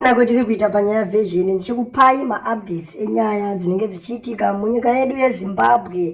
nako tiri kuita panyaya vezvene ndichikupai maupdates enyaya dzinenge dzichiitika munyika yedu yezimbabwe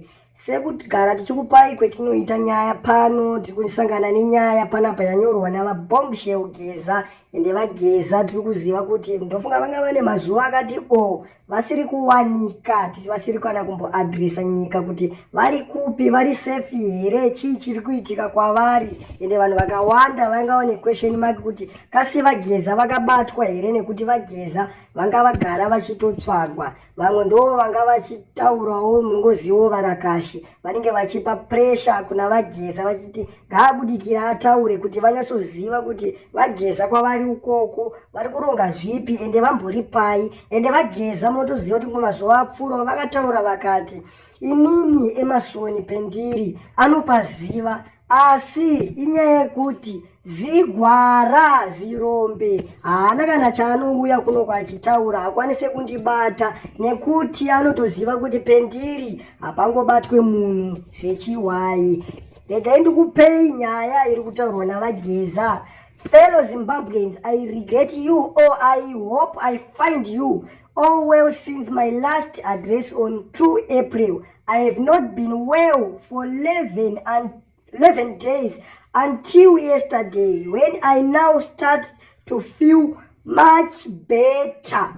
sekugara tichikupai kwetinoita nyaya pano tiri kusangana nenyaya panapa yanyorwa navabombshel geza ende vageza tiri kuziva kuti ndofunga vanga vane mazuva akati o vasiri kuwanika tisi vasiri kana kumboadresa nyika kuti vari kupi vari safe here chii chiri kuitika kwavari ende vanhu vakawanda vanga vane question mark kuti kasi vageza vakabatwa here nekuti vageza vanga vagara vachitotsvagwa vamwe ndoo vanga vachitaurawo mungoziwo varakashi vanenge vachipa pressure kuna vageza vachiti ngaabudikira ataure kuti vanyatsoziva kuti vageza kwavari ukoko vari kuronga zvipi ende vambori pai ende vageza motoziva kuti mumazuva apfuurawo vakataura vakati inini emasoni pendiri anopaziva asi inyaya yekuti zigwara zirombe haana kana chaanouya kuno kwachitaura hakwanise kundibata nekuti anotoziva kuti pendiri hapangobatwe munhu zvechiwai regai ndikupei nyaya iri kutaurwa navageza fellow zimbabweans i regret you or i hope i find you all well since my last address on 2 april i have not been well for 11 and 11 days until yesterday when i now start to feel much better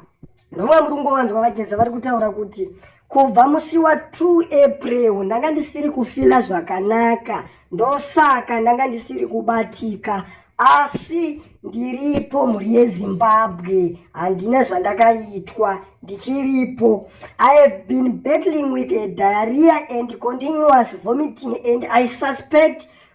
Nguva muri kungovanzwa vageza vari kutaura kuti kubva musi wa 2 April ndanga ndisiri kufila zvakanaka ndosaka ndanga ndisiri kubatika asi ndiripo mhuri yezimbabwe handina zvandakaitwa ndichiripo i have been battling with a diarrhea and continuous vomiting and i suspect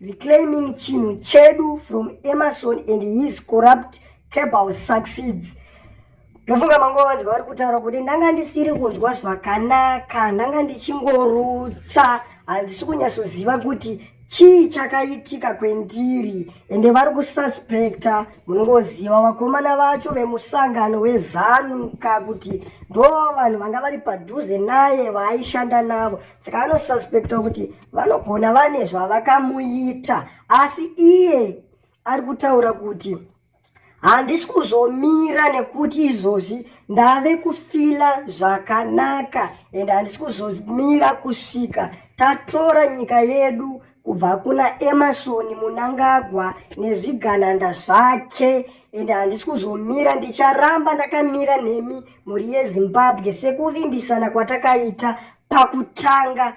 Reclaiming chinhu chedu from Emerson and his corrupt cabal succeeds. Ndofunga manguva vanzwa vari kutaura kuti ndanga ndisiri kunzwa zvakanaka, ndanga ndichingorutsa, handisi kunyatsoziva kuti chii chakaitika kwendiri ende vari kususpecta munongoziva vakomana vacho vemusangano wezanuka kuti ndo vanhu vanga vari padhuze naye vaaishanda navo saka anosuspecta kuti vanogona vane zvavakamuita asi iye ari kutaura kuti handisi kuzomira nekuti izvozvi ndave kufila zvakanaka and handisi kuzomira kusvika tatora nyika yedu kubva kuna emarson munangagwa nezvigananda zvake and handisi kuzomira ndicharamba ndakamira nemi mhuri yezimbabwe sekuvimbisana kwatakaita pakutanga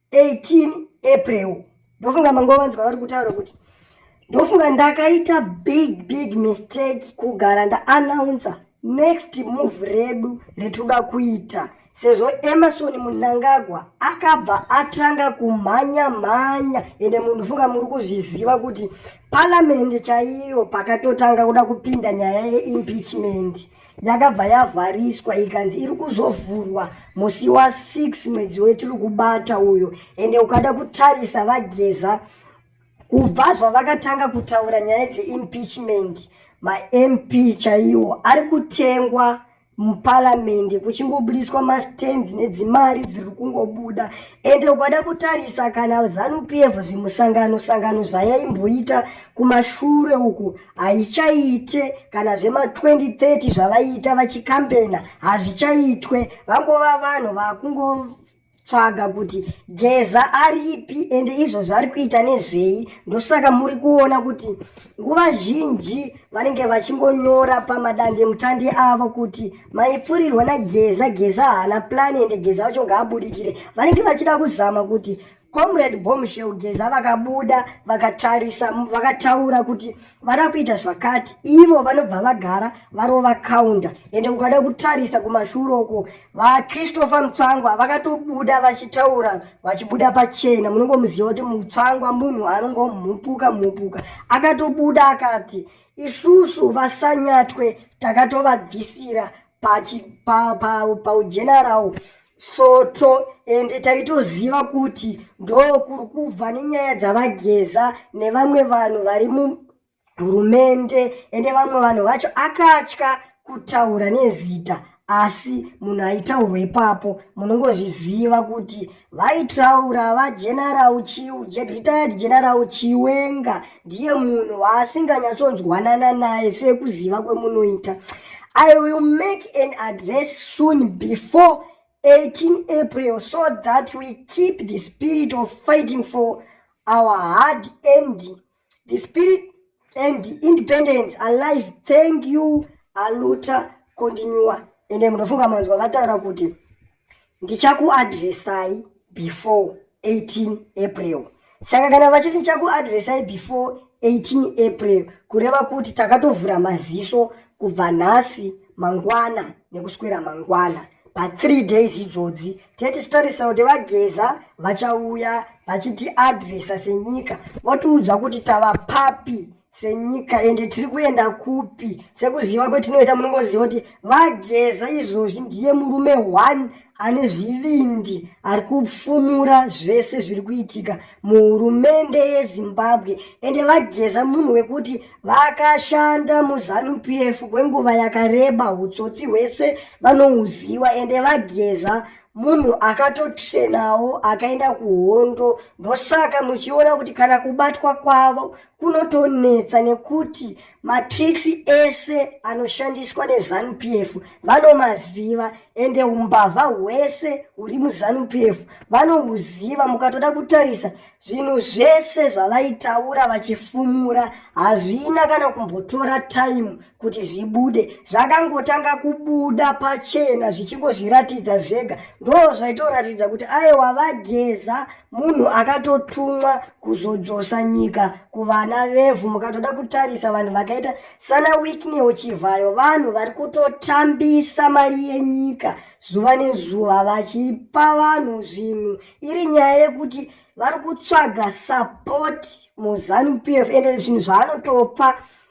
18 april ndofunga mangovanzwa vari kutaura kuti ndofunga ndakaita big big mistake kugara ndaanouncer next move redu retoda kuita sezvo emerson munangagwa akabva atanga kumhanya mhanya ende munhu funga muri kuzviziva kuti paramende chaiyo pakatotanga kuda kupinda nyaya yeimpeachment yakabva yavhariswa ikanzi iri kuzovhurwa musi wa6 mwedzi wetiri kubata uyo ende ukada kutarisa vageza kubva zvavakatanga kutaura nyaya dzeimpeachment mamp chaiwo ari kutengwa muparamende kuchingobudiswa mastands nedzimari dziri kungobuda ende ukada kutarisa kana zanupf zvimusangano sangano zvayaimboita kumashure uku haichaite kana zvema 2030 zvavaiita vachikambena hazvichaitwe vangova vanhu vakungotsvaga kuti geza aripi ende izvo zvari kuita nezvei ndosaka muri kuona kuti nguva zhinji vanenge vachingonyora pamadande mutandi avo kuti maipfurirwa nageza geza haana plani ende geza vacho ngaabudikire vanenge vachida kuzama kuti comrade bombshell geza vakabuda vakatarisa vakataura kuti vada kuita zvakati ivo vanobva vagara varova counter ende ukada kutarisa kumashure uko vachristopher mutsvangwa vakatobuda vachitaura vachibuda pachena munongomuziva kuti mutsvangwa munhu anongomhupuka mhupuka akatobuda akati isusu vasanyatwe takatovabvisira paujena pa, pa, pa, rawo svoto ende taitoziva kuti ndokuri kubva nenyaya dzavageza nevamwe vanhu vari muhurumende ende vamwe vanhu vacho akatya kutaura nezita asi munhu aitaurwa ipapo munongozviziva kuti vaitaura vageneral chiu retired general chiwenga ndiye munhu waasinganyatsonzwanana naye sekuziva kwemunoita i will make an address soon before 18 april so that we keep the spirit of fighting for our hard end the spirit and independence alive thank you aluta continua ende munofunga manzwa vataura kuti ndichakuadresai before 18 april saka kana vachiti ndichakuadresai before 18 april kureva kuti takatovhura maziso kubva nhasi mangwana nekuswera mangwana pathree days idzodzi tee tichitarisa kuti vageza vachauya vachitiadresa senyika votiudza kuti tava papi senyika ende tiri kuenda kupi sekuziva kwetinoita munongoziva kuti vageza izvozvi ndiye murume one ane zvivindi ari kupfumura zvese zviri kuitika muhurumende yezimbabwe ende vageza munhu wekuti vakashanda muzanu p f kwenguva yakareba utsotsi hwese vanohuziva ende vageza munhu akatotrenawo akaenda kuhondo ndosaka muchiona kuti kana kubatwa kwavo kunotonetsa nekuti matricks ese anoshandiswa nezanu p f vanomaziva ende umbavha hwese huri muzanu p f vanohuziva mukatoda kutarisa zvinhu zvese zvavaitaura vachifumura hazvina kana kumbotora time kuti zvibude zvakangotanga kubuda pachena zvichingozviratidza zvega ndo zvaitoratidza kuti aiwa vageza munhu akatotumwa kuzodzosa nyika kuvana vevhu mukatoda kutarisa vanhu vakaita sana wiknew chivhayo vanhu vari kutotambisa mari yenyika zuva nezuva vachipa vanhu zvinhu iri nyaya yekuti vari kutsvaga sapoti muzanu p f ende zvinhu zvaanotopa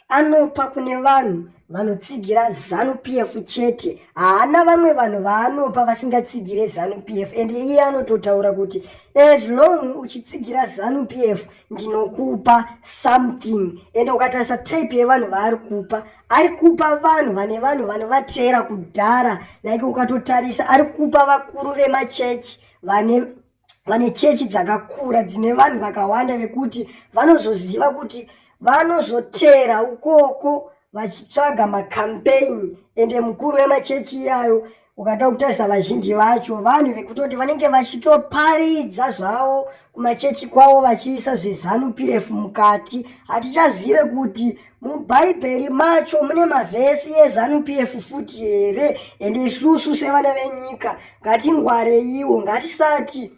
Anopa kune vanhu vanotsigira zanu pf chete haana vamwe vanhu vaanopa vasingatsigire zanu pf and iye anototaura kuti as long uchitsigira zanu pf ndinokupa something and ukatarisa type yevanhu vaari kupa ari kupa vanhu vane vanhu vanovateera kudhara like ukatotarisa ari kupa vakuru vemachechi vane vane chechi dzakakura dzine vanhu vakawanda vekuti vanozoziva kuti vanozoteera ukoko vachitsvaga makampeini ende mukuru wemachechi iyayo ukada kutarisa vazhinji vacho vanhu vekutoti vanenge vachitoparidza zvavo kumachechi kwavo vachiisa zvezanu p f mukati hatichazive kuti mubhaibheri macho mune mavhesi ezanup f futi here ende isusu sevana venyika ngatingwareiwo ngatisati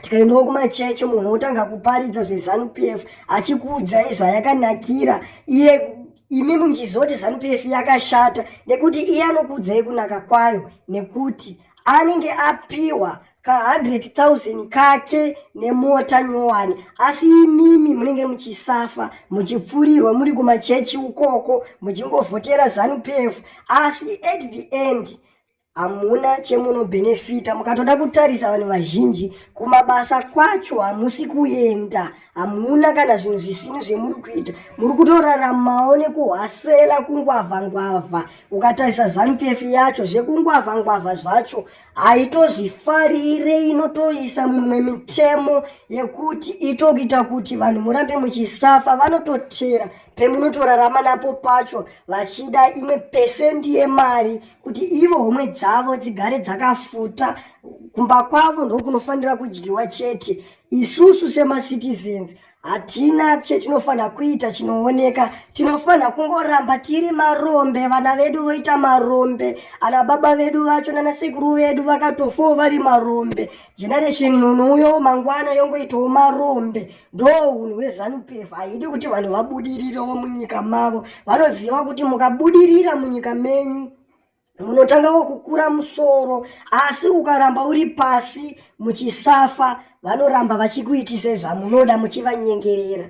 tikaendawo kumachechi munhu otanga kuparidza zvezanup f achikuudzai zvayakanakira iye imi munjizoti zanup f yakashata nekuti iye anokuudzai kunaka kwayo nekuti anenge apiwa ka100,000 kake nemota nyowani asi imimi munenge muchisafa muchipfurirwa muri kumachechi ukoko muchingovhotera zanupf asi at the end hamuna chemunobhenefita mukatoda kutarisa vanhu vazhinji kumabasa kwacho hamusi kuenda hamuna kana zvinhu zvisvinu zvemuri kuita muri kutoraramawo nekuhwasela kungwavha ngwavha ukatarisa zanupf yacho zvekungwavha ngwavha zvacho haitozvifarire inotoisa mumwe mitemo yekuti itokuita kuti vanhu murambe muchisafa vanototera pemunotorarama napo pacho vachida imwe pesendi yemari kuti ivo homwe dzavo dzigare dzakafuta kumba kwavo ndokunofanira kudyiwa chete isusu semacitizens Hatina chetinofanira kuita chinooneka, tinofanira kungoramba tiri marombe. Vana vedu voita marombe, ana baba vedu vacho nana sekuru vedu vakatofawo vari marombe. Generation unouyo mangwana yongoitawo marombe. Ndo unhu hwezanu PF haidi kuti vanhu vabudirirewo munyika mavo. Vanoziva kuti mukabudirira munyika menyu munotanga kukura musoro asi ukaramba uri pasi muchisafa vanoramba vachikuitisa zvamunoda muchivanyengerera